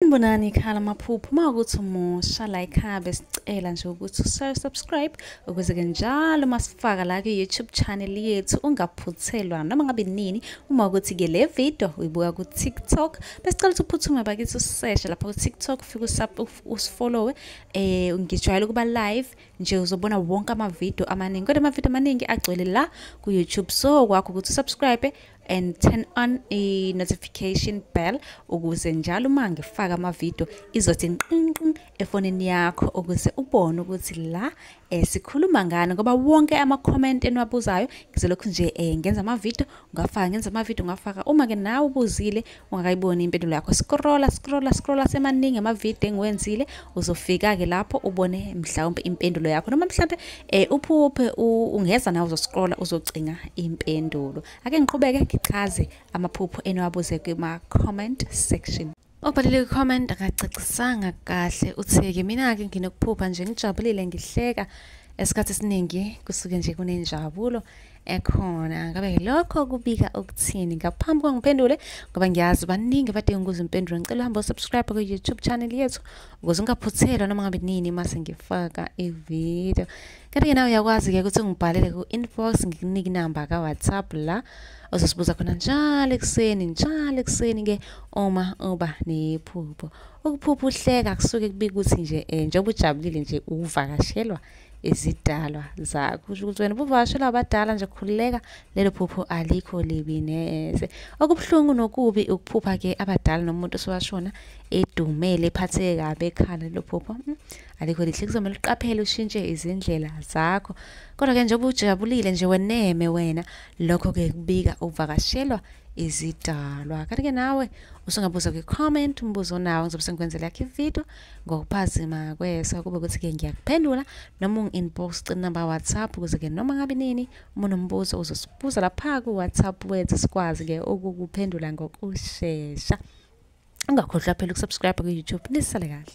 Sanibonani ikhala amaphupho uma ukuthi umusha la ikhaya besicela nje ukuthi usubscribe ukuze ke njalo masifaka la ku-youtube channel yethu ungaphuthelwa noma ngabe nini uma ukuthi ke le video uyibuka ku-tiktok besicela ukuthi uphuthume bakithi useshe lapha ku-tiktok ufike usifollowe eh ngijwayele ukuba live nje uzobona wonke amavidiyo amaningi kodwa amavidiyo amaningi agcwele la ku-youtube so kwakho ukuthi usubscribe and turn on a notification bell ukuze njalo uma ngifaka amavidiyo izothi nqinqin efonini yakho ukuze ubone ukuthi la eh, sikhuluma ngani ngoba wonke ama-comment eniwabuzayo ngizolokhu nje eh, ngenza amavidiyo ngafaka ngenza amavidiyo ngafaka uma-ke nawe ubuzile ungakayiboni impendulo yakho scrolla scrolla scrolla semaningi amavidiyo engiwenzile uzofika-ke lapho ubone mhlawumpe impendulo yakho noma mhlawumpe um uphuphe ungeza nawe uzoscrolla uzocinga impendulo ake ngiqhubeke ngichaze amaphupho eniwabuze kuma-comment section obhalile kwi-comment akacacisanga kahle uthi-ke mina-ke nginokuphupha nje ngijabulile ngihleka esikhathi esiningi kusuke nje kunenjabulo ekhona ngabe lokho kubika ukuthini ngaphambi kwangiphendule ngoba ngiyazi baningi badinga ukuze impendule ngicela uhambe usubscribe ku-youtube channel yethu ukuze ungaphuthelwa noma ngabe nini uma sengifaka ividiyo kanti-ke nawe uyakwazi-ke ukuthi ungibhalele ku-inbox ngikunike inamba ka-whatsapp la ozosibuza khona njalo ekuseni njalo ekuseni-ke uma uba nephupho ukuphupha uhleka kusuke kubika ukuthi nje um njengoba ujabulile nje uvakashelwa izidalwa zakho kusho ukuthi wena ubuvashela abadala nje khululeka lelo phupho alikho libi neze okubuhlungu nokubi ukuphupha ke abadala nomuntu osewashona edumele ephatheke kabi ekhala lelo phupho hmm, alikho lihle kuzomele uqaphele ushintshe izindlela zakho kodwa ke njengoba ujabulile nje weneme wena lokho ke kubika ukuvakashelwa izidalwa kanti ke nawe usungabuza kwi-comment umbuzo onawo ngizobe sengikwenzela yakho ividiyo ngokuphazima kweso kube ukuthi-ke ngiyakuphendula noma ungi-inbox inamba whatsapp ukuze-ke noma ngabe nini uma unombuzo uzosibuza lapha ku-whatsapp wethu sikwazi-ke ukukuphendula ngokushesha ungakhohlwa phela ukusubscribe ku-youtube nisale kahle